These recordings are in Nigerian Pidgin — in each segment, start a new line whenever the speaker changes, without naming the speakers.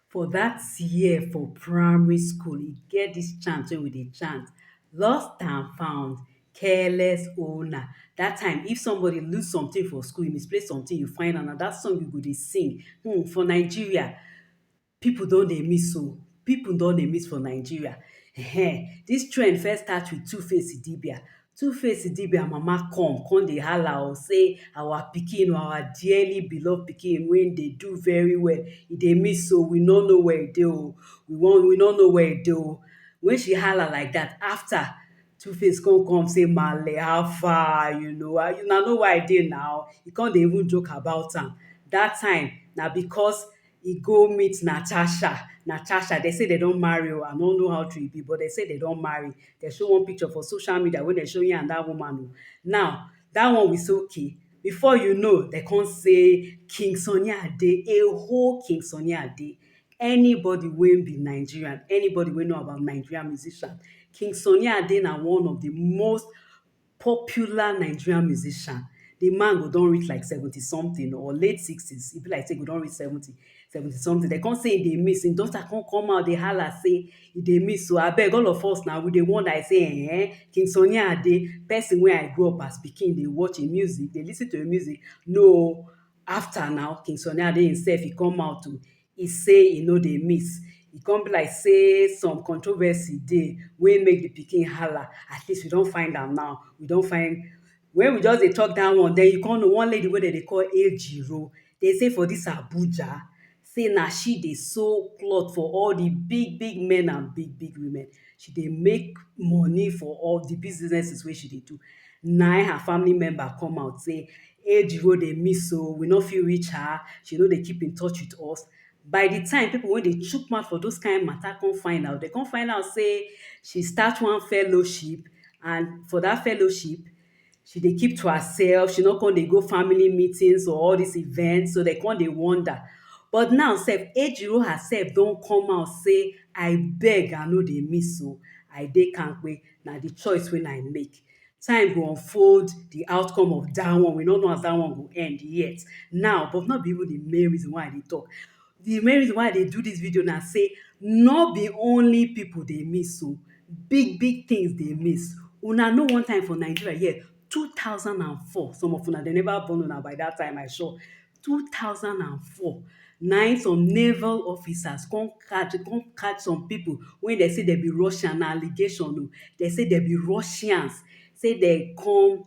For dat year for primary school, e get dis chant wey we dey chant, lost and found, careless owner. Dat time, if somebody lose something for school, you misplace something, you find am, na dat song you go dey sing. Hmm! For Nigeria, pipu don dey miss oh! Pipu don dey miss for Nigeria. Ehen! Dis trend first start with Tuface Idibia. Two face idibia mama come come dey hala o say our pikin o our dearly beloved pikin wey dey do very well e dey miss o we no know where e dey o we wan we no know where e dey o when she hala like that after two face come come say maale how far you know why you na know where I dey now e come dey even joke about am that time na because e go meet Natasha, Natasha dem say dem don marry oh, I no know how true e be but dem say dem don marry, dem show one picture for social media wey dem show him and dat woman oh, now dat one we say okay, before you know dem come say King Sunny Ade, a whole King Sunny Ade, anybody wey be Nigerian, anybody wey know about Nigerian musician, King Sunny Ade na one of di most popular Nigerian musician, di man go don reach like seventy something or late sixties, e be like sey e go don reach seventy, seventy something, dem con sey e dey miss, e daughter con come out dey halla sey e dey miss o, abeg all of us na we dey wonder, e sey um, King Sunny Ade, person wey I grow up as pikin dey watch im music, dey lis ten to im music, no o, after na King Sunny Ade himself, e come out o, E say e no dey miss. E come be like say some controversy dey wey make the pikin hala. At least we don find am now. We don find When we just dey talk dat one, den you come know one lady wey dem dey call Ejiro. Dem say for dis Abuja, say na she dey sew cloth for all the big big men and big big women. She dey make money for all the businesses wey she dey do. Nayin her family member come out say Age go dey miss o, we no fit reach her, she no dey keep in touch with us. By the time people wey dey chook mouth for those kind matter come find out, they come find out sey she start one fellowship and for dat fellowship, she dey keep to herself, she no con dey go family meetings or all these events, so they con dey wonder. But now self, Ejiro herself don come out sey I beg, I no dey miss o, I dey kampe, na the choice wey I make. Time go unfold the outcome of that one. We no know as that one go end yet. Now, but no be even the main reason why I dey talk. The main reason why I dey do this video na say no be only people dey miss o. Big big things dey miss. Una know one time for Nigeria here, 2004, some of una dem never born una by that time I sure. two thousand and four na im some naval officers come catch dem come catch some people wey dem say dem be Russian na allegation oh dem say dem be Russians say dem come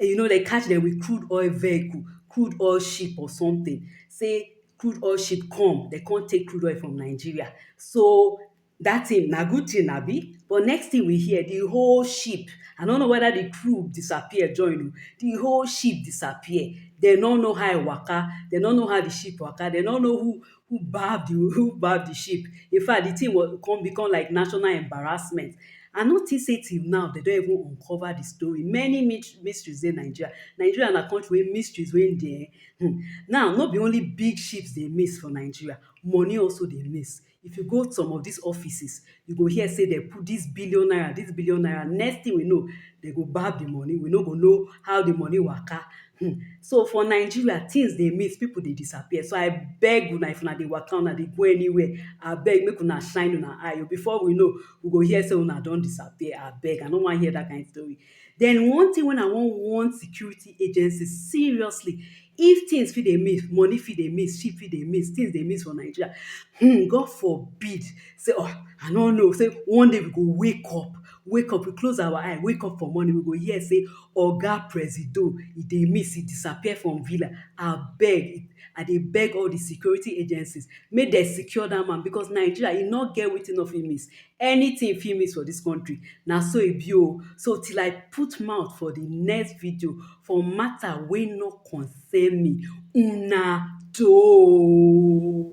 you know dem catch dem with crude oil vehicle crude oil ship or something say crude oil ship come dem come take crude oil from Nigeria so Dat thing na good thing abi? But next thing we hear, the whole ship, I no know whether the crew disappear join o, the whole ship disappear. They no know how e waka, they no know how the ship waka, they no know who who baff the who baff the ship. In fact, the thing was come become like national embarrassment. I no think say till now they don even uncover the story. Many mysteries dey Nigeria. Nigeria na country wey mysteries wey dey um. Now, no be only big ships dey miss for Nigeria, money also dey miss. If you go some of dis offices, you go hear sey dem put dis billion naira, dis billion naira. Next thing we know, dem go gbab the money. We no go know how the money waka. um So, for Nigeria, things dey miss, pipu dey disappear. So, I beg una, if una dey waka, una dey go anywhere, abeg make una shine una eye oh. Before we know, we go hear sey una don disappear. Abeg, I no wan hear dat kind story. Den one tin wen I wan warn security agency seriously, if tins fit dey miss, money fit dey miss, ship fit dey miss, tins dey miss for Nigeria, um God forbid sey um I no know sey one day we go wake up, wake up, we close our eye, wake up for morning, we go hear sey Oga Presido, e dey miss, e disappear from villa, abeg, I dey beg all di security agencies make den secure dat man because Nigeria, e no get wetin e no fit miss. Anything fit miss for dis country na so e be oh. So till I put mouth for the next video for matter wey no concern me, una doh oh.